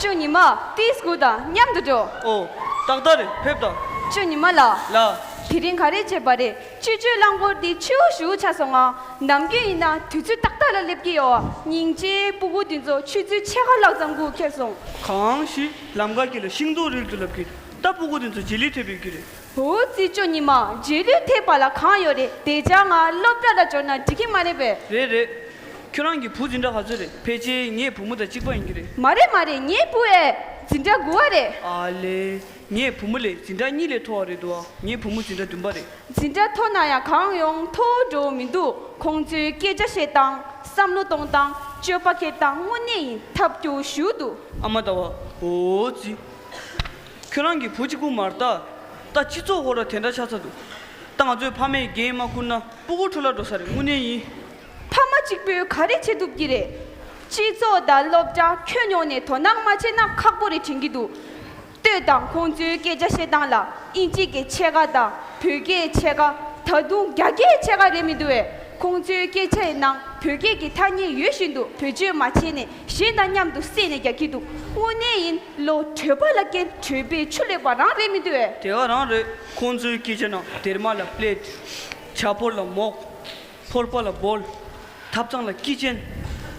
ཁྱོད་ཉི་མ་ཏིས་སྐུ་དང་མཉམ་དུ་འགྲོ། ཨོ། ཏག་ཏག་རེད་ཕེབས་དང། ཁྱོད་ཉི་མ་ལགས། ལགས། དེ་རིང་ག་རེ་བྱས་པ་རེད། སྤྱི་སྤྱོད་རླངས་འཁོར་དེ་ཆུའུ་བཞུར་ཆགས་སོང་ང་ནམ་རྒྱུན་ཡིན་ན་དུས་ཚོད་ཏག་ཏག་ལ་སླེབས་ཀྱི་ཡོད་སྙིང་རྗེ་སྤུ་གུ་དེ་ཚོ་ཆུ་ཚོད་ཕྱེད་ཀ་ལྷག་ཙམ་སྒུག་འཁེལ་སོང། གང་ཞིག་ལམ་ཁ་གྱེས་ལ་ཤིང་ཏོག་རིལ་དུ་ལབ་ཀྱི་ད་སྤུ་གུ་དེ་ཚོ་རྗེས་ལུས་ཐེབས་ཡོད་ཀྱི་རེད། ཧོའུ་ཙི་ཅོ་ཉི་མ་རྗེས་ལུས་ཐེབས་པ་ལ་གང་ཡོད་རེད་དེ་ཅག་ང་སློབ་གྲྭ་ལ་འབྱོར་ན་འགྲིག་གི་མ་རེད་པས། རེད་རེད། ཁྱོད་རང་གི་བུ་འཛིན་གྲྭ་ག་ཚོད་རེད་ཕལ་ཆེར་ངའི་བུ་མོ་དང་གཅིག་པ་ཡིན་གྱི་རེད། མ་རེད་མ་རེད་ངའི་བུ་ཨེ། འཛིན་གྲྭ་དགུ་བ་རེད། ཨ་ལེ། ངས་བུ་མོ་ལས་འཛིན་གྲྭ་གཉིས་ལས་མཐོ་བ་རེད་འདུག་ཨ་ངའི་བུ་མོ་འཛིན་གྲྭ་བདུན་པ་རེད། འཛིན་གྲྭ་མཐོ་ན་ཡང་གང་ཡོང་མཐོ་བོ་འགྲོ་འོ་མི་འདུག་ཁོང་ཚོའི་སྐད་ཆ་བཤད་སྟངས་བསམ་བློ་གཏོང་སྟངས་སྤྱོད་པ་སྐྱེལ་སྟངས་དངོས་གནས་ཡིན་ཐབས་སྐྱོ་བོ་ཞུ་འདུག། ཨ་མ་ཟླ་བ་འོ་ཙི། ཁྱོད་རང་གི་བུ་གཅིག་པུ་མར་ལྟ། ད་སྤྱི་ཚོགས་ཧོར་ར་དེ་འདྲ་ཆགས་ཚར་འདུག། ད་ང་ཚོའི་ཕ་མས་རྒྱན་མ་ཁུར་ན་སྤུ་གུར་འཁྲུ་སླ་འགྲོ་ས་རེད་དངོས་གནས་ཡིན། ཕ་མ་གཅིག་པོས་ག་རེ་བྱེད་ཐུབ་ཀྱི་རེད། སྤྱི་ཚོགས་དང་སློབ་གྲྭ་ཁྱོན་ཡོངས་ནས་དོ་སྣང་མ་བྱས་ན་ཁག་པོ་རེ་དྲན་གྱི་འདུག་ལྟོས་དང་ཁོང་ཚོའི་སྐད་ཆ་བཤད་སྟངས་ལ་དབྱིན་ཇི་གི་ཕྱེད་ཀ་དང་བོད་སྐད་ཕྱེད་ཀ་ད་དུང་རྒྱ་སྐད་ཕྱེད་ཀ་རེད་མི་འདུག་བས་ཁོང་ཚོའི་སྐད་ཆ་ཡི་ནང་བོད་སྐད་ཀྱི་ཐ་སྙད་ཡོད་བཞིན་དུ་བེད་སྤྱོད་མ་བྱས་ནས་གཞན་དང་མཉམ་དུ་བསྲེས་ནས་རྒྱག་གི་འདུག་དངོས་གནས་ཡིན་བློ་གྲོས་པ་ལ་སྐད་གྲོས་པའི་ཆུ་ལེགས་པ་རང་རེད་མི་འདུག་བས། དེ་ག་རང་རེད་ཁོང་ཚོའི་སྐད་ཆ་རྣམས་སྡེར་མ་ལ་སྤྲད་དེ་བྱ་ཕོར་ལ་མོག། ཕོར་པ་ལ་སྦོལ། ཐབ་ཚང་ལ་སྐྱི་ཅན།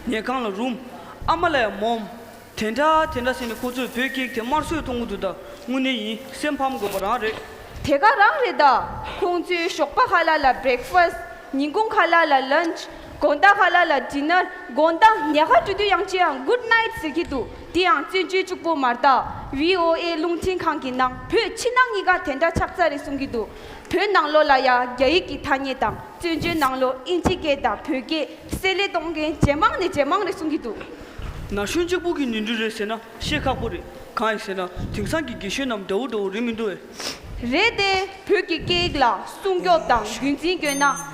ཉལ་ཁང་ལ་རུམ། ཨ་མ་ལ་ཡང་མོམ། དེ་འདྲ་དེ་འདྲ་ཟེར་ནས་ཁོ་ཚོས་བོད་སྐད་དེ་དམར་གསོད་གཏོང་གི་འདུག་ད་དངོས་གནས་ཡིན་སེམས་ཕམ་དགོས་པ་རང་རེད། དེ་ག་རང་རེད་ད། ཁོང་ཚོས་ཞོགས་པ་ཧ་ལ་ལ Breakfast། ཉིན་གུང་ཧ་ལ་ལ Lunch། དགོང་ཟླ་ཧ་ལ་ལ Dinner། དགོང་ཟླ་ཉལ་ཁ་འགྲོ་དུས་ཡང་ཅི་ཡང Good Night ཟེར་གྱི་འདུག་དེ་ཡང་བཙན་བྱོལ་ཅུག་པོ་མ་རྟག། VOA རླུང་འཕྲིན་ཁང་གི་ནང་བོད་ཕྱི་ནང་གཉིས་ཀ་དེ་འདྲ་ཆགས་ཚར་རེད་གསུང་གི་འདུག་བོད་ནང་ལོགས་ལ་ཡང་རྒྱ་ཡིག་གི་ཐ་སྙད་དང་བཙོན་བྱོལ་ནང་ལོགས་ཨིན་ཇི་སྐད་དང་བོད་སྐད་བསྲེ་ལེ་གཏོང་མཁན་ཇེ་མང་ནས་ཇེ་མང་རེད་གསུང་གི་འདུག། ན་གཞོན་གཅིག་པུ་གི་ཉིང་འབྲུ་རེད་ཟེར་ན་བཤད་ཁག་པོ་རེད་གང་ཡིན་ཟེར་ན་དེང་སང་གི་དགེ་བཤེས་རྣམས་དགྲ་བོ་དགྲ་བོ་རེད་མི་འདུག་བས། རེད་དེ་བོད་ཀྱི་སྐད་ཡིག་ལ་སྲུང་སྐྱོབ་དང་རྒྱུན་འཛིན་དགོས་ན་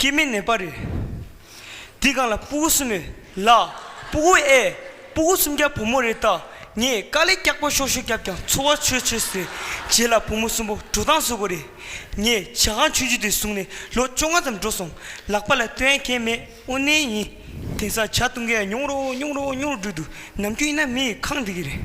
སྐྱེ་མེད་ནད་པ་རེ། འདི་གང་ལ་སྤུ་གུ་གསུམ་མེད་ལ། སྤུ་གུ་ཨེ། སྤུ་གུ་གསུམ་རྒྱག་བུ་མོ་རེ་ལྟ། ངས་དཀའ་ལས་སྐྱག་པ་ཤོར་ཤོར་བརྒྱབ་ཀྱང་འཚོ་བ་ཆོད་ཆོད་ཟེར། རྗེས་ལ་བུ་མོ་གསུམ་པོ་འགྲོ་སྟངས་བཟོ་དགོས་རེད། ངས་བྱ་ཁང་ཆུང་ཆུང་དེ་བཟུང་ནས་ལོ་བཅོ་ལྔ་ཙམ་འགྲོ་སོང། ལག་པ་ལ་སྟོན་མཁན་མེད་དབུ་མནན་ཡིན། དེང་སང་བྱ་བཏུང་མཁན་ཉུང་རོ་ཉུང་རོ་ཉུང་རོ་འགྲོ་འདུག་ནམ་རྒྱུན་ཡིན་ན་མི་ཡི་ཁང་འདི་གི་རེད།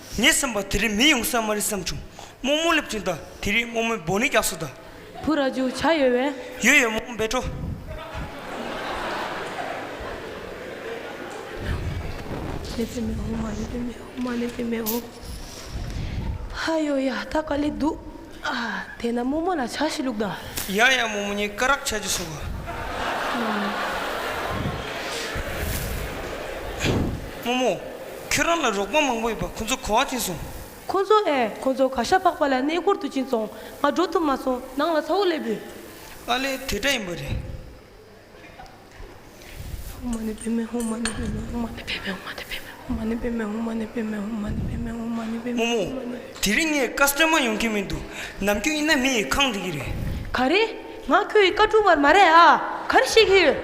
ངས་སེམས་པ་དེ་རིང་མི་ཡོང་ས་མ་རེད་བསམ་བྱུང། རྨོ་མོ་སླེབས་ཅིང་ད་དེ་རིང་རྨོ་མོའི་སྦོ་ནི་རྒྱགས་སོ་ད། བུ་ར་རྒྱུག་བྱ་ཡོད་བས། ཡོད་ཡོད་རྨོ་མོ་འབད་འགྲོ། ལེ་ཙེ་མེ་འོང་མ་ལེ་ཙེ་མེ་འོང་མ་ལེ་ཙེ་མེ་འོང། ཧ་ཡོ་ཡ་ད་ག་ལེ་འདུག། དེས་ན་རྨོ་མོ་ལ་ཕྱག་བཞི་བླུགས་དང། ཡང་ཡང་རྨོ་མོ་གཉིས་སྐ་རགས་ཆགས་ཀྱིས་སོང་བ། རྨོ་མོ། ཁྱོད་རང་ལ་རོགས་པ་མང་པོ་ཡོད་པ་ཁོ་ཚོ་གོ་བ་གྱིན་སོང། ཁོ་ཚོ་ཨེ་ཁོ་ཚོ་ག་ཤ་ཕག་པ་ལ་གནས་སྐོར་དུ་ཕྱིན་སོང་ང་འགྲོ་ཐུབ་མ་སོང་ནང་ལ་ཚ་བོ་སླེབས་ཡོད། ཨ་ལས་དེ་འདྲ་ཡིན་པ་རེད། དེ་རིང་ངས་བཀའ་སྩོལ་མ་ཡོང་གི་མི་འདུག་ནམ་རྒྱུན་ཡིན་ན་མི་ཡི་ཁང་འདི་གི་རེད། ག་རེ། ང་ཁྱོད་ཡི་བཀའ་དྲུང་བར་མ་རེད་ཨ། ག་རེ་བཤད་གི་ཡོད།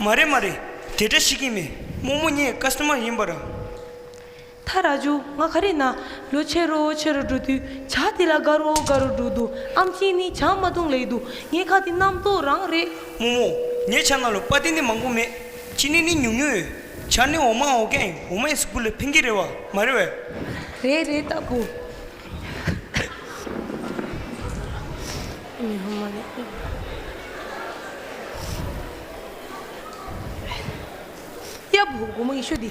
མ་རེད་མ་རེད། དེ་འདྲ་བཤད་གི་མེད་རྨོ་མོ་ངས་བཀའ་སྩོལ་མ་ཡིན་པར་ཨ། ད་ར་ཇོ་ང་ག་རེ་ན་ལོ་ཆེ་རོ་ཆེ་རོ་འགྲོ་དུས་བྱ་དེ་ལ་དགའ་རོ་དགའ་རོ་འགྲོ་འདུག་ཨམ་ཆིན་ནི་བྱ་མ་བཏུང་ལེགས་འདུག་ངའི་ཁ་དེ་རྣམ་རྟོག་རང་རེད། རྨོ་རྨོ། ངའི་བྱ་ང་ལོ་པ་དེ་ནི་མང་པོ་མེད། ཆི་ནི་ནི་ཉུང་ཉུང་ཡོད། བྱ་ནི་འོ་མ་འོ་གན་འོ་མ་ཡིན་སུ་སྐུ་ལ་ཕན་གི་རེད་བ་མ་རེད་བས། རེད་རེད་ལྟ་བུ། མི་ཧོ་མ་ནི་ཨི། ཡ་བུ་དགོང་མོ་ཡེ་ཤུ་འདི།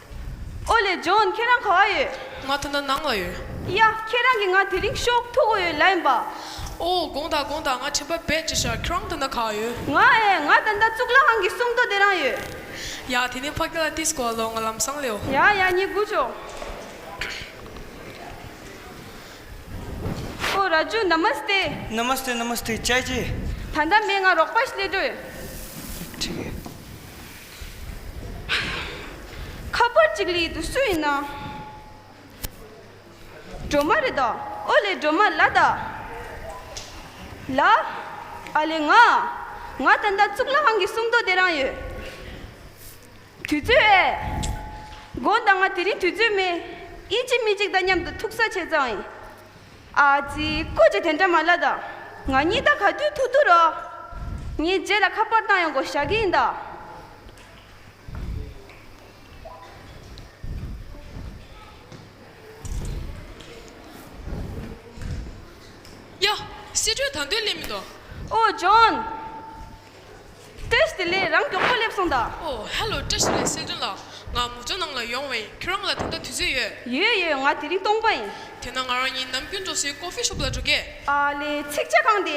ཨོ་ལེ་ཇོན་ཁྱེད་རང་ག་བ་ཡོད། ང་ད་ནང་ལ་ཡོད། ཡ་ཁྱེད་རང་གིས་ང་དེ་རིང་ཤོག་ཐུག་གོ་ཡོད་ལ་ཡིན་པ། ཨོ་དགོངས་དག་དགོངས་དག་ང་དྲན་པ་བེད་ཅེས་ཤར་ཁྱེད་རང་ད་ནང་ག་བ་ཡོད། ང་ཨེ་ང་ད་ནང་གཙུག་ལག་ཁང་གི་སུམ་མདོ་དེ་རང་ཡོད། ཡ་དེ་ནས་ཕ་གི་ལ་ཏིས་གོ་བ་ལོ་ང་ལམ་སང་ལེའོ། ཡ་ཡ་ཉིད་སྒུག་ཆོག། ཨོ་ར་ཇོ་ན་མ་སྟེ། ན་མ་སྟེ་ན་མ་སྟེ་ཅེ་ཅེ། ད་ཟླ་མེད་ང་རོགས་པ་ཞིག་སླེབས་འགྲོ་ཡོད། ཁྱེད་རང་གི་ལ་ཏིས་གོ་བ་ལོ་ང་ལམ་སང་ལེའོ། ཁ་པར་ཅིག་ལས་དུ་སུ་ཡིན་ནམ། སྒྲོལ་མ་རེད་ད། ཨོ་ལེ་སྒྲོལ་མ་ལགས་ད། ལ། ཨ་ལེ་ང། ང་ད་ལྟ་གཙུག་ལག་ཁང་གི་སུམ་མདོ་དེ་རང་ཡོད། དུས་ཚོད་ཨེ། དགོངས་དང་ང་དེ་རིང་དུས་ཚོད་མེད། ཨི་གཅིག་མི་གཅིག་ད་མཉམ་དུ་ཐུག་ས་བྱས་ཙང་ཨེ། ཨ་ཙི། ཀུ་ཅི་དེ་འདྲ་མ་ལ་ད། ང་གཉིས་ད་ག་དུས་ཐུག་འདུག་རོགས། ངའི་རྗེས་ལ་ཁ་པར་བཏང་ཡོང་དགོས་ཞག་གི་ཡིན་ད། ཡ། བཤད་གྲོས་ད་འདོད་ལེ་མི་འདུག། ཨོ་ཇོན། བཀྲ་ཤིས་ལས་རང་མགྱོགས་པོ་སླེབས་སོང་དང། ཨོ་ཧལ་ལོ་བཀྲ་ཤིས་ལས་སེ་འབྲུ་ལགས་ང་མོ་ཇོ་ནང་ལ་ཡོང་བས་ཁྱོད་རང་ལ་དེ་འདྲ་དུས་ཚོད་ཡོད། ཡོད་ཡོད་ང་དེ་རིང་སྟོང་པ་ཡིན། དེ་ན་ང་རང་གཉིས་ནམ་རྒྱུན་འགྲོ་སའི Coffee Shop ལ་འགྲོ་གི། ཨ་ལེ་ཚིག་བྱ་གང་དེ་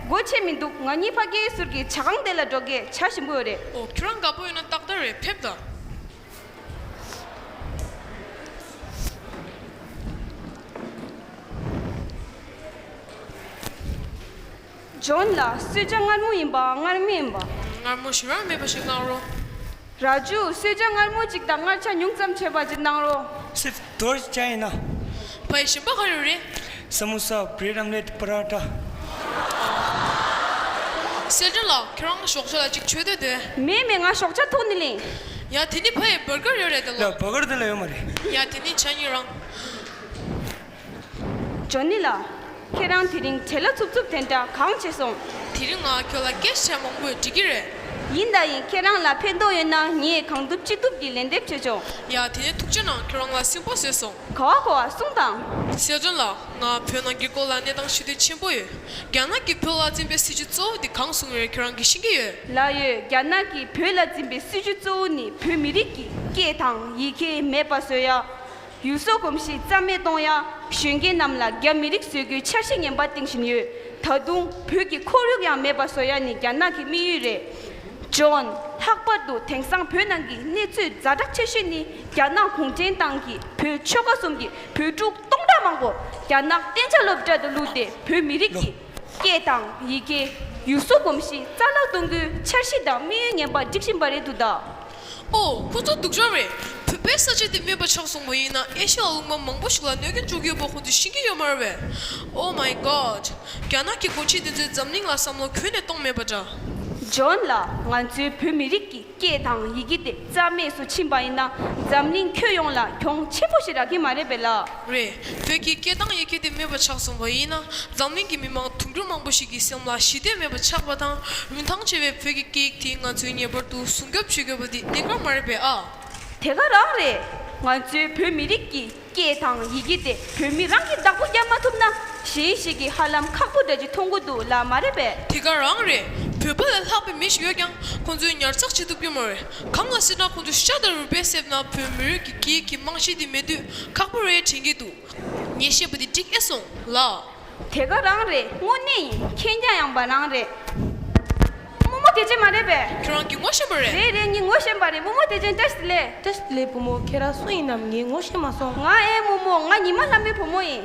སྒོ་ཕྱེ་མི་འདུག་ང་གཉིས་ཕ་གིའི་ཟུར་གྱི་བྱ་ཁང་དེ་ལ་འགྲོ་གི་བྱ་ཞིམ་པོ་ཡོད་རེད། ཨོ་ཁྱོད་རང་དགའ་པོ་ཡོད་ན་ཏག་ཏག་རེད་ཕེབས་དང། ཇོན་ལ་གསོད་བྱ་མངར་མོ་ཡིན་པ་མངར་མི་ཡིན་པ། མངར་མོ་ཞིམ་ར་མེད་པ་ཞིག་གནང་རོགས། ར་ཇུ་གསོད་བྱ་མངར་མོ་གཅིག་དང་མངར་ཆ་ཉུང་ཙམ་བྱས་པ་གཅིག་གནང་རོགས། སི་ཏོར་གྱི་ཅང་ཡིན་ན། ཕ་ཡི་ཞིམ་པ་ག་རེ་རེད། སི་མོ་སཱ་བྷྲེ་རམ་ལེ་ཏི་པ་ར་ཏྲ། སེ་ཏྲ་ལགས་ཁྱེད་རང་ཞོགས་ཆ་ལ་གཅིག་མཆོད་འདོད་དོན། མེད་མེད་ང་ཞོགས་ཆ་ཐུག་ནི་ལེན། ཡ་དེ་ནི་ཕ་ཡི་བུར་སྒར་ཡོད་རེད་དེ་ལོ། ལ་བུར་སྒར་དེ་ལ་ཡོད་མ་རེད། ཡ་དེ་ནི་བྱ་སྙིགས་རང། ཇོ་ནི་ལགས། ཁྱེད་རང་དེ་རིང་བྲེལ་ལ་འཚུབ་འཚུབ་དེ་འདྲ་གང་བྱེད་སོང། དེ་རིང་ང་ཁྱོད་ལ་སྐད་ཆ་མང་པོས་འདྲི་གི་རེད། ཡིན་ད་ཡིན་ཁྱེད་རང་ལ་ཕན་ཐོགས་ཡོད་ན་ངས་གང་ཐུབ་ཅི་ཐུབ་ཀྱིས་ལན་འདེབས་བྱེད་ཆོག། ཡ་དེ་ནས་ཐུགས་རྗེ་གནང་ཁྱོད་རང་ལ་སེམས་པོ་བཟོད་སོང། གོ་བ་གོ་བ་གསུངས་དང། ཟེར་དོན་ལ་ང་བོད་ནང་གི་སྐོར་ལ་གནས་སྟངས་ཤེས་འདོད་ཆེན་པོ་ཡོད། རྒྱ་ནག་གིས་བོད་ལ་འཛིན་པའི་སྲིད་ཇུས་གཙོ་བོ་དེ་གང་བཟུང་ཡོད་ཁྱོད་རང་གིས་ཤེས་ཀྱི་ཡོད། ལགས་ཡོད་རྒྱ་ནག་གིས་བོད་ལ་འཛིན་པའི་སྲིད་ཇུས་གཙོ་བོ་ནི་བོད་མི་རིགས་ཀྱི་སྐད་དང་ཡི་གེ་མེད་པ་བཟོས་ཡ། ཡུལ་སྲོལ་གོམས་གཤིས་རྩ་མེད་གཏོང་ཡང་གཞོན་སྐྱེས་རྣམས་ལ་རྒྱ་མི་རིགས་བཟོས་རྒྱུའི་འཆར་གཞི་ངན་པ་གཏིང་བཞིན་ཡོད། ད་དུང་བོད་ཀྱི་ཁོར་ཡུག་ཡང་མེད་པ་བཟོ་ཡ་ནི་རྒྱ་ནག་གི་དམིགས་ཡུལ་རེད། ཇོན། ལྷག་པར་དུ་དེང་སང་བོད་ནང་གི་གནས་ཚུལ་རྫ་དྲག་ཆེ་ཤོས་ནི་རྒྱ་ནག་གུང་ཁྲན་ཏང་གིས་བོད་ཆོལ་ཁ་གསུམ་གྱི་བོད་ཕྲུག་སྟོང་ཕྲག་མང་པོ་རྒྱ་ནག་གཏན་ཆ་སློབ་གྲྭ་དུ་བླུགས་ཏེ་བོད་མི་རིགས་ཀྱི་སྐད་དང་ཡི་གེ། ཡུལ་སྲོལ་གོམས་གཤིས་རྩ་བརླག་གཏོང་རྒྱུའི་འཆར་གཞི་དང་དམིགས་ཡུལ་ངན་པ་སྒྲིག་བཞིན་པ་རེད་འདུག་ད། ཨོ། ཁོ་ཚོ་སྡུག་ཅག་རེད། བོད་པའི་ས་ཆ་འདི་སྨྱོན་པ་ཆགས་སོང་མ་ཡིན་ན་ཨེ་ཤི་ཡ་རླུང་དམར་མང་པོ་ཞིག་ལ་གནོད་ཀྱི་འཇུག་ཡོད་པ་ཁོ་ཚོས་ཤེས་ཀྱི་ཡོད་མ་རེད་བས། Oh my God། རྒྱ་ནག་གི་འགོ་ཁྲིད་དེ་ཚོས་འཛམ་གླིང་ལ་བསམ་བློ་གོན་ནས་གཏོང་མེད་པ་འདྲ། ཇོན་ལགས་ང་ཚོའི་བོད་མི་རིགས་ཀྱི་སྐད་དང་ཡི་གེ་དེ་རྩ་མེད་སུ་ཕྱིན་པ་ཡིན་ན་འཛམ་གླིང་ཁྱོད་ཡོངས་ལ་གྱོང་ཆེན་པོ་ཞིག་རག་གི་མ་རེད་པས་ལགས། རེད། བོད་ཀྱི་སྐད་དང་ཡི་གེ་དེ་མེད་པ་ཆགས་སོང་བ་ཡིན་ན་འཛམ་གླིང་གི་མི་མང་དུང་ཕྱུར་མང་པོ་ཞིག་གི་སེམས་ལ་ཞི་བདེ་མེད་པ་ཆགས་པ་དང་རིན་ཐང་ཆེ་བའི་བོད་ཀྱི་སྐད་ཡིག་དེ་ང་ཚོས་ངེས་པར་དུ་སྲུང་སྐྱོབ་བྱེད་དགོས་པ་འདི་གནད་འགག་མ་རེད་པས་ཨ། དེ་ག་རང་རེད། ང་ཚོའི་བོད་མི་རིགས་ཀྱི་སྐད་དང་ཡི་གེ་དེ་བོད་མི་རང་གིས་བདག་པོ་རྒྱབ་མ་ཐུབ་ན་གཞན་ཞིག་གིས་ཧ་ལམ་ཁག་པོ་འདྲ་གཅིག་མཐོང་གི་འདུག་ལབ་མ་རེད་པས། དེ་ག་རང་རེད། བོད་པ་ལས་ལྷག་པའི་མི་ཞིག་ཡོད་ཀྱང་ཁོང་ཚོས་ཉར་ཚགས་བྱེད་ཐུབ་ཀྱི་མ་རེད། གང་ལ་སྲིད་ན་ཁོང་ཚོས་ཤ་དང་རུས་པའི་གསེབ་ན་བོད་མི་རིགས་ཀྱི་སྐད་ཡིག་གི་རྨང་གཞི་འདི་མེད་དུས་ཁག་པོ་རེད་དྲན་གྱི་འདུག་ངས་བཤད་པ་འདི་འགྲིག་ཨེ་སོང་ལགས། དེ་ག་རང་རེད་དངོས་གནས་ཡིན་མཁྱེན་རྒྱ་ཡངས་པ་རང་རེད། དབུ་མོ་དེ་ཅན་མ་རེད་པས། ཁྱོད་རང་གི་ངོ་ཤེས་པ་རེད། རེད་རེད་ངས་ངོ་ཤེས་པ་རེད་དབུ་མོ་དེ་ཅན་ཏེ་སི་ལེ། ཏེ་སི་ལེ་བུ་མོ་ཁྱེད་རང་སུ་ཡིན་ནམ་ངས་ངོ་ཤེས་མ་སོང། ང་ཨེ་དབུ་མོ་ང་ཉི་མ་ལྷ་མོའི་བུ་མོ་ཡིན།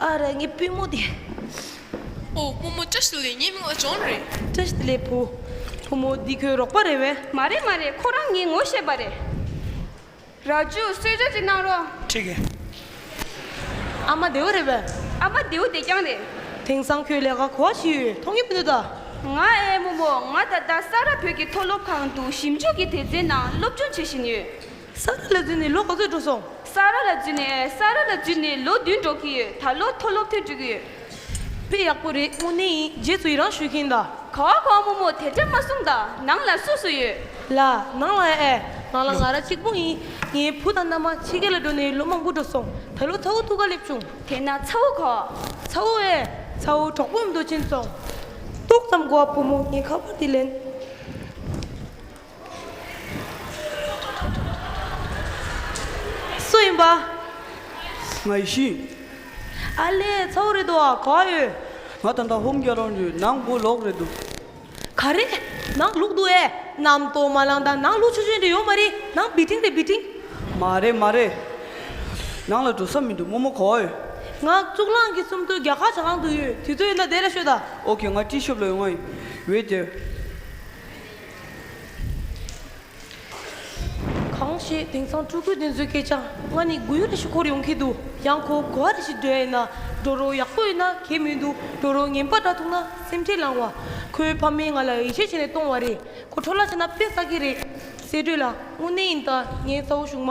ཨ་རེ་ངའི་པུས་མོ་དེ། ཨོ་དབུ་མོ་བཀྲ་ཤིས་ལེགས་ཉེས་མིང་ལ་སྦྱོང་རེད། བཀྲ་ཤིས་ལེགས་བུ། བུ་མོ་འདི་ཁོའི་རོགས་པ་རེད་བས། མ་རེད་མ་རེད་ཁོ་རང་ངའི་ངོ་ཤེས་པ་རེད། ར་ཇུ་གསོལ་ཇ་ཅིག་གནང་རོགས། ཁྲིག་གེ། ཨ་མ་རྡེའུ་རེད་བས། ཨ་མ་རྡེའུ་བདེ་རྐྱང་རེད། དེང་སང་ཁྱོད་ལས་ཀ་གོ་བ་ཞིག་ཡོད་མཐོང་གི་མི་འདུག་ད། ང་ཨའི་རྨོ་མོ་ང་ད་ལྟ་ས་རཱ་བོད་ཀྱི་མཐོ་སློབ་ཁང་དུ་ཞིབ་འཇུག་གི་དེ་རྩའི་ནང་སློབ་སྦྱོང་བྱེད་བཞིན་ཡོད། ས་ར་ལ་བརྫུས་ནས་ལོ་ག་ཚོད་འགྲོ་སོང། ས་ར་ལ་བརྫུས་ནས་ས་ར་ལ་བརྫུས་ནས་ལོ་བདུན་འགྲོ་གི་ཡོད་ད་ལོ་མཐོ་སློབ་ཐོན་འགྲོ་གི་ཡོད། དཔེ་ཡག་པོ་རེད་དངོས་གནས་ཡིན་རྗེས་སུ་ཡི་རང་ཞུ་གིན་གདའ། ག་བ་ག་བ་མོ་མོ་དེ་འདྲ་མ་གསུང་གདའ་ནང་ལ་སུ་སུ་ཡོད། ལ་ནང་ལ་ཨེ་ནང་ལ་ང་ར་གཅིག་པོ་ཡིན་ངའི་བུ་དང་མནའ་མ་ཕྱི་རྒྱལ་ལ་འགྲོ་ནས་ལོ་མང་པོ་འགྲོ་སོང་ད་ལོ་ཚ་བོ་ཐུགས་ཀ་སླེབས་བྱུང། དེ་ན་ཚ་བོ་ག། ཚ་བོ་ཨེ་ཚ་བོ་གྲོགས་པོ་འདོད་ཆེན་ཚོ། ཏོག་ཙམ་གོ་བ་བུ་མོ་ངས་ཁ་པར་དེ་ལེན། སུ་ཡིན་པ། ང་ཡི་ཤིང། ཨ་ལས་ཚོགས་རེད་འདུག་ག་ཡོད། ང་ད་ལྟ་ཧོམ་རྒྱ་རོང་རི་ནང་སྒོ་ལོག་རེད་འདུག། ག་རེ། ནང་ལུག་འདུག་ཨེ། གནམ་སྟོང་མ་ལངས་དང་ནང་ལུག་ཆུང་ཆུང་དེ་ཡོད་མ་རེད་ནང་བི་ཏིང་རེད་བི་ཏིང། མ་རེད་མ་རེད། ནང་ལ་འགྲོ་ས་མི་འདུག་རྨོ་མོ་ག་ཡོད། ང་གཙུག་ལག་གི་སུམ་མདོའི་རྒྱ་གར་བྱ་ཁང་དུ་ཡོད་དུས་ཚོད་ཡོད་ན་བསྡད་ལ་ཤོད་ད། ཨོ་ཁེ་ང་ཏི་ཤོབ་ལ་ཡོང་ང་ཡིན། འོད་སྡེར། གང་ཞེས་དེང་སང་སྤྲུལ་སྐུའི་གདན་བཟོས་སྐད་ཆ་ང་ནི་དགུ་ཡུ་རེ་ཞིག་འཁོར་ཡོང་གི་འདུག་ཡང་ཁོ་གོ་བ་རེ་ཞིག་སྒྲོལ་ཡིན་ན་སྒྲོ་རོགས་ཡག་པོ་ཡིན་ན་གད་མི་འདུག་སྒྲོ་རོགས་ངན་པ་འདྲ་ཐུག་ན་སེམས་ཁྲལ་ལངས་བ་ཁོའི་ཕ་མས་ང་ལ་ཡིད་ཆེས་བྱས་ནས་གཏོང་བ་རེད་ཁོ་འཕྲོ་བརླག་ཆེ་ན་དཔེ་བསགས་ཀྱི་རེད་གསལ་སྒྲོས་ལ་དངོས་གནས་ཡིན་ད་ངའི་རྩ་བོ་གཞུག་མ་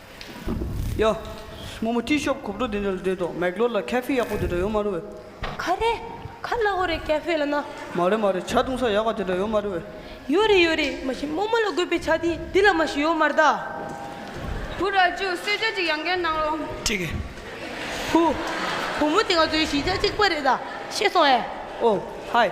ཡ། སྔོན་མོ་ཏི་ཤོབ་གོབ་འགྲོ་དེ་འདྲ་རེད་འདོད། མེག་ལོར་ལ་ཁ་ཕི་ཡག་པོ་དེ་འདྲ་ཡོད་མ་རེད་བས། ཁ་རེད། ཁ་སྣ་ཧོ་རེད་ཁ་ཕི་ལ་ན། མ་རེད་མ་རེད་བྱ་བཏུང་ས་ཡག་པ་དེ་འདྲ་ཡོད་མ་རེད་བས། ཡོད་རེད་ཡོད་རེད་མ་གཞི་རྨོ་མོ་ལ་དགོས་པའི་བྱ་དེ་འདི་ལ་མ་གཞི་ཡོད་མ་རེད་ད། བུ་ར་ཅོ་གསོལ་ཇ་ཅིག་ཡང་བརྒལ་གནང་རོགས། ཅིག། བུ། བུ་མོ་དེ་ང་ཚོའི་གཞིས་ཆགས་གཅིག་པ་རེད་ད། ཤེས་སོང་ཨེ། ཨོ། ཧའི།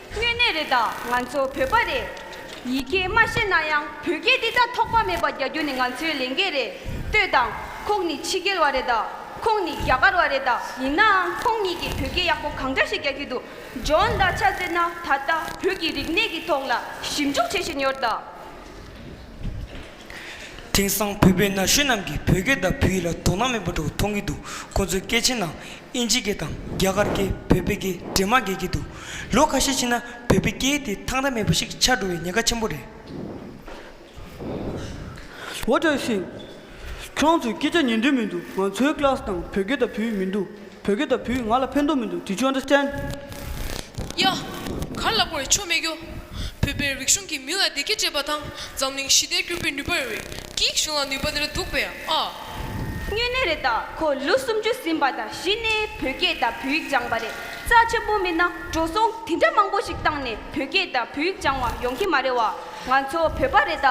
དངོས་གནས་རེད་ད་ང་ཚོ་བོད་པ་རེད། ཡིག་སྐད་མ་ཤེས་ན་ཡང་བོད་སྐད་འདི་དག་ཐོགས་པ་མེད་པ་རྒྱག་རྒྱུ་ནི་ང་ཚོའི་ལས་འགན་རེད་ལྟོས་དང། ཁོང་ནི་ཕྱི་རྒྱལ་བ་རེད་ད་ཁོང་ནི་རྒྱ་གར་བ་རེད་ད་ཡིན་ནའང་ཁོང་གཉིས་ཀྱིས་བོད་སྐད་ཡག་པོ་གང་འདྲ་ཞིག་རྒྱག་གི་འདུག་ཇོན་ད་ཆ་ཟེར་ན་ད་ལྟ་བོད་ཀྱི་རིག་གནས་ཀྱི་ཐོག་ལ་ཞིབ་འཇུག་བྱེད་བཞིན་ཡོད་ད། དེང་སང་བོད་པའི་ན་གཞོན་རྣམས་ཀྱིས་བོད་སྐད་དང་བོད་ཡིག་ལ་དོ་སྣང་མེད་པ་འདྲ་བོ་མཐོང་གི་འདུག་ཁོང་ཚོའི་སྐད་ཆའི་ནང་ཨིན་ཇི་སྐད་དང་རྒྱ་གར་སྐད་བོད་པའི་སྐད་འདྲེས་མ་འགལ་གྱི་འདུག་ལོ་ཁ་ཤས་ཕྱིན་ན་བོད་པའི་སྐད་དེ་ཐང་ཐང་མེད་པ་ཞིག་ཆགས་འགྲོ་བའི་ཉེན་ཁ་ཆེན་པོ་རེད། འོ་བཀྲ་ཤིས། ཁྱོད་ཚོའི་སྐད་ཆ་ཉན་འདོད་མི་འདུག་ང་ཚོའི་ཀླགས་དང་བོད་སྐད་དང་བོད་ཡིག་མི་འདུག། བོད་སྐད་དང་བུ་ང་ལ་ཕན་ཐོག་མི་འདུག་དྲི་ཅོ་འདྲ་ཅན། གཡག། གར་ལ་བོར་བའི་ཆོ་མེད་རྒྱུ། བོད་པའི་རིག་གཞུང་གིས་མི་ལ་བདེ་སྐྱིད་སྤྲད་པ་དང་འཛམ་གླིང་ཞི་བདེར་བསྒྱུར་པའི་ནུས་པ་རེ་བས་སྐྱིད་གཞུང་ལ་ནུས་པ་དེ་འདྲ་འདུག་པས་ཨ། དངོས་གནས་རེད་ད་ཁོ་ལོ་སུམ་ཅུ་ཟིན་པ་དང་གཞི་ནས་བོད་སྐད་དང་བོད་ཡིག་སྦྱང་པ་རེད་རྩ་ཆེན་པོ་མིན་ན་འགྲོ་སོང་དེ་འདྲ་མང་པོ་ཞིག་བཏང་ནས་བོད་སྐད་དང་བོད་ཡིག་སྦྱང་བ་ཡོང་གི་མ་རེད་བ་ང་ཚོ་བོད་པ་རེད་ད་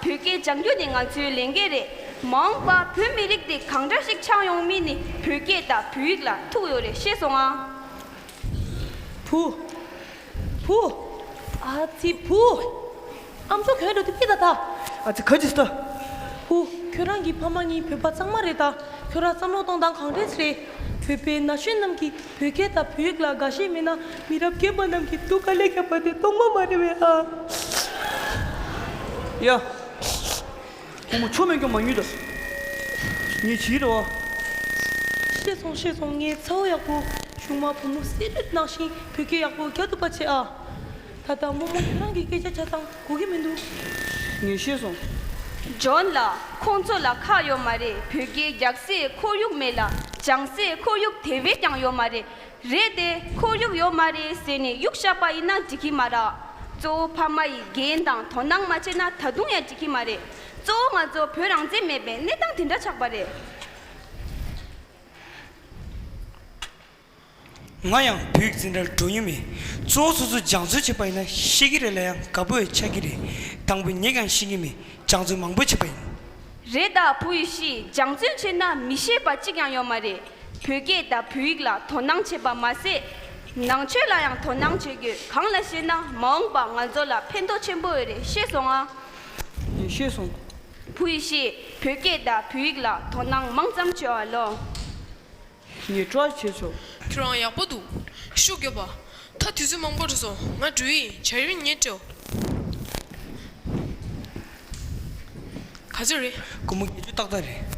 བོད་སྐད་སྦྱང་རྒྱུ་ནི་ང་ཚོའི་ལས་འགན་རེད། མ་འོངས་པ་བོད་མི་རིགས་འདི་གང་འདྲ་ཞིག་ཆགས་ཡོང་མིན་ནི་བོད་སྐད་དང་བོད་ཡིག་ལ་ཐུག་ཡོད་རེད་ཤེས་སོང་ཨ། བུ། བུ། ཨ་ཙི་བུ། ཨ་མཆོག་གྱོན་འགྲོ་དེ་ཅི་ད་ད། ཨ་ཙི་ག་ཇི་ཟེར། བུ། ཁྱོད་རང་གི་ཕ་མ་གཉིས་བོད་པ་གཙང་མ་རེད་ད། ཁྱོད་རང་བསམ་བློ་གཏོང་སྟངས་གང་དྲན་རེད། བོད་པའི་ན་གཞོན་རྣམས་ཀྱིས་བོད་སྐད་དང་བོད་ཡིག་ལ་དགའ་ཞེན་མེད་ན་མི་རབས་རྒན་པ་རྣམས་ཀྱིས་སྡུག་ག་ལེ་རྒྱབ་པ་དེ་རྟོགས་མ་མ་རེད་བས་ཨ། ཡ། ཁོ་མོ་ཆོ་མེད་ཀྱང་མ་ཉོས་ད། ངས་བྱས་རེད་བ། ཤེས་སོང་ཤེས་སོང་ངའི་ཚ་བོ་ཡག་པོ་གཞུག་མ་བུ་མོ་གསེར་རིལ་ནག་ཞིང་བོད་སྐད་ཡག་པོ་ག་ཐུབ་པ་བྱེད་ཨ། ད་ལྟ་རྨོ་མོ་ཁྱེད་རང་གི་སྐད་ཆ་ཆ་ཚང་གོ་གི་མི་འདུག། ངས་ཤེས་སོང། ཇོན་ལགས་ཁོང་ཚོ་ལ་ཁག་ཡོད་མ་རེད་བོད་སྐད་རྒྱག་སའི་ཁོར་ཡུག་མེད་ལ་སྦྱང་སའི་ཁོར་ཡུག་དེ་བས་ཀྱང་ཡོད་མ་རེད། རེད་དེ་ཁོ་གཡུག་ཡོད་མ་རེད་ཟེར་ནས་གཡུག་བཞག་པ་ཡིན་ན་འགྲིག་གི་མ་རག་གཙོ་བོ་ཕ་མ་ཡིས་འགན་དང་དོ་སྣང་མ་བྱས་ན་ད་དུང་ཡང་འགྲིག་གི་མ་རེད་གཙོ་བོ་ང་ཚོ་བོད་རང་བཙན་མེད་པའི་གནས་སྟངས་དེ་འདྲ་ཆགས་པ་རེད། ང་ཡང་བོད་ཀྱི་འཛིན་གྲྭར་འགྲོ་ཡུལ་མེད་གཙོ་བོ་སོ་སོ་སྦྱང་བརྩོན་བྱས་པ་ཡིན་ན་ཤེས་ཀྱི་རེད་ལ་ཡང་དགའ་པོ་བས་ཆགས་ཀྱི་རེད་དང་པོ་ངེད་ཀྱང་ཤེས་ཀྱི་མེད་སྦྱང་བརྩོན་མང་པོ་བྱས་པ་ཡིན། རེད་ད་བོུ་ཡི་ཤི་སྦྱང་བརྩོན་བྱས་ན་མི་ཤེས་པ་གཅིག་ཡང་ཡོད་མ་རེད་བོད་སྐད་དང་བོད་ཡིག་ལ་དོ་སྣང་བྱེད་པ་མ་ཟད། ནང་ཆོས་ལ་ཡང་དོ་སྣང་བྱེད་དགོས་གང་ལ་ཞེ་ན་མ་འོངས་པ་ང་ཚོ་ལ་ཕན་ཐོག་ཆེན་པོ་འོས་རེད་ཤེས་སོང་ཨ། ཡིན་ཤེས་སོང། བོུ་ཡི་ཤི་བོད་སྐད་དང་བོད་ཡིག་ལ་དོ་སྣང་མང་ཙམ་བྱེད་བ་ལོ། ངེད་སྐྲག་བྱེད་ཆོག། ཁྱོད་རང་ཡག་པོ་འདུག། ཤུགས་རྒྱོབ་པ། ད་དུས་ཚོད་མང་པོ་རེད་སོང་ང་འགྲུལ་ཡིན་བྱ་ཡུལ་ཉེ་བྲོ། ག་ཚོད་རེད། ཀུ་མུ་བརྒྱད་ཅུ་ཏག་ཏག་རེད།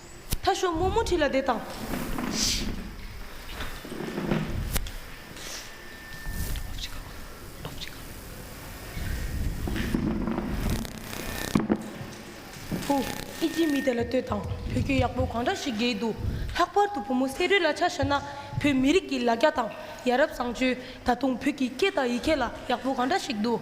ཐ་ཤོ་མོ་མོ་ཁྲི་ལ་བསྡད་དང། ཧཱུྃ། ཨི་ཇི་མི་དེ་ལ་ལྟོས་དང་བོད་སྐད་ཡག་པོ་གང་འདྲ་ཞིག་དགེ་འདུག་ལྷག་པར་དུ་བུ་མོ་བསེ་རུའི་ལ་ཆ་བཤད་ན་བོད་མི་རིགས་ཀྱི་ལ་རྒྱ་དང་ཡ་རབས་བཟང་སྤྱོད་ད་དུང་བོད་ཀྱི་སྐད་དང་ཡི་གེ་ལ་ཡག་པོ་གང་འདྲ་ཞིག་འདུག་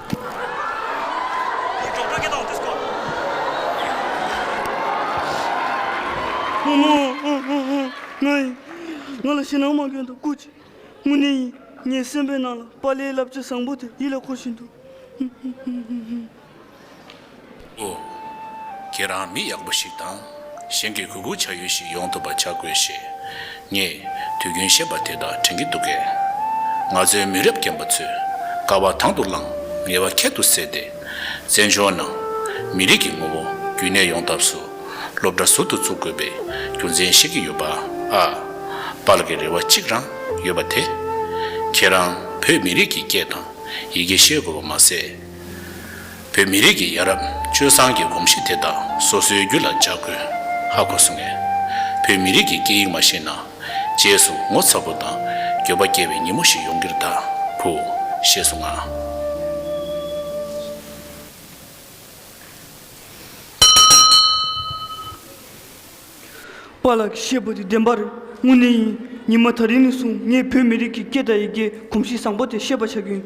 ཨོ་མ་ང་ཡིན། ང་ལ་ཕྱི་ནང་མ་གྱོན་ཐོག་སྐུ་ཅི་དངོས་གནས་ཡིན། ངའི་སེམས་པའི་ནང་ལ་པཱ་ལའི་བསླབ་བྱ་བཟང་པོ་དེ་ཡིད་ལ་འཁོར་བཞིན་འདུག། ཨོ། ཁྱེད་རང་མི་ཡག་པོ་ཞིག་དང། གཞན་གྱི་གུས་བཀུར་བྱ་ཡུལ་ཞིག་ཡོང་ཐུབ་པ་བྱ་དགོས་ཞེས། ངས་དུས་རྒྱུན་བཤད་པ་དེ་དག་དྲན་གྱི་འདུག་གས། ང་ཚོའི་མི་རབས་རྒན་པ་ཚོས་དཀའ་བ་དང་དུ་བླངས་ངལ་བ་ཁྱད་དུ་བསད་དེ། བཙན་བྱོལ་ནང་མི་རིགས་ཀྱི་ངོ་བོ་རྒྱུན་གནས་ཡོང་ཐབས་སུ་སློབ་གྲྭ་ཟུར་དུ་བཙུགས་དགོས་པའི་རྒྱུ་མཚན་བཤད་ཀྱི་ཡོད་པ་ཨ། པར་གྱི་རེ་བ་གཅིག་རང་ཡོད་པ་དེ། ཁྱེད་རང་བོད་མི་རིགས་ཀྱི་སྐད་དང་ཡི་གེ་ཤེས་དགོས་པ་མ་ཟད། བོད་མི་རིགས་ཀྱི་ཡ་རབས་སྤྱོད་བཟང་གི་གོམས་གཤིས་དེ་དག་སོ་སོའི་རྒྱུད་ལ་འཇགས་དགོས་ཧ་གོ་སོང་ངས། བོད་མི་རིགས་ཀྱི་སྐད་ཡིག་མ་ཤེས་ན་རྗེས་སུ་ངོ་ཚ་པོ་དང་འགྱོད་པ་སྐྱེ་བའི་ཉིན་མོ་ཞིག་ཡོང་གིར་གདའ་གུ། ཞེས་སོང་ང། པཱ་ལགས་ཀྱིས་བཤད་པ་དེ་བདེན་པ་རེད་དངོས་གནས་ཡིན། ཉི་མ་ཐ་རི་ནས་བཟུང་ངས་བོད་མི་རིགས་ཀྱི་སྐད་དང་ཡི་གེའི་གོམས་གཤིས་བཟང་པོ་དེ་ཤེས་པ་བྱ་རྒྱུ་ཡིན།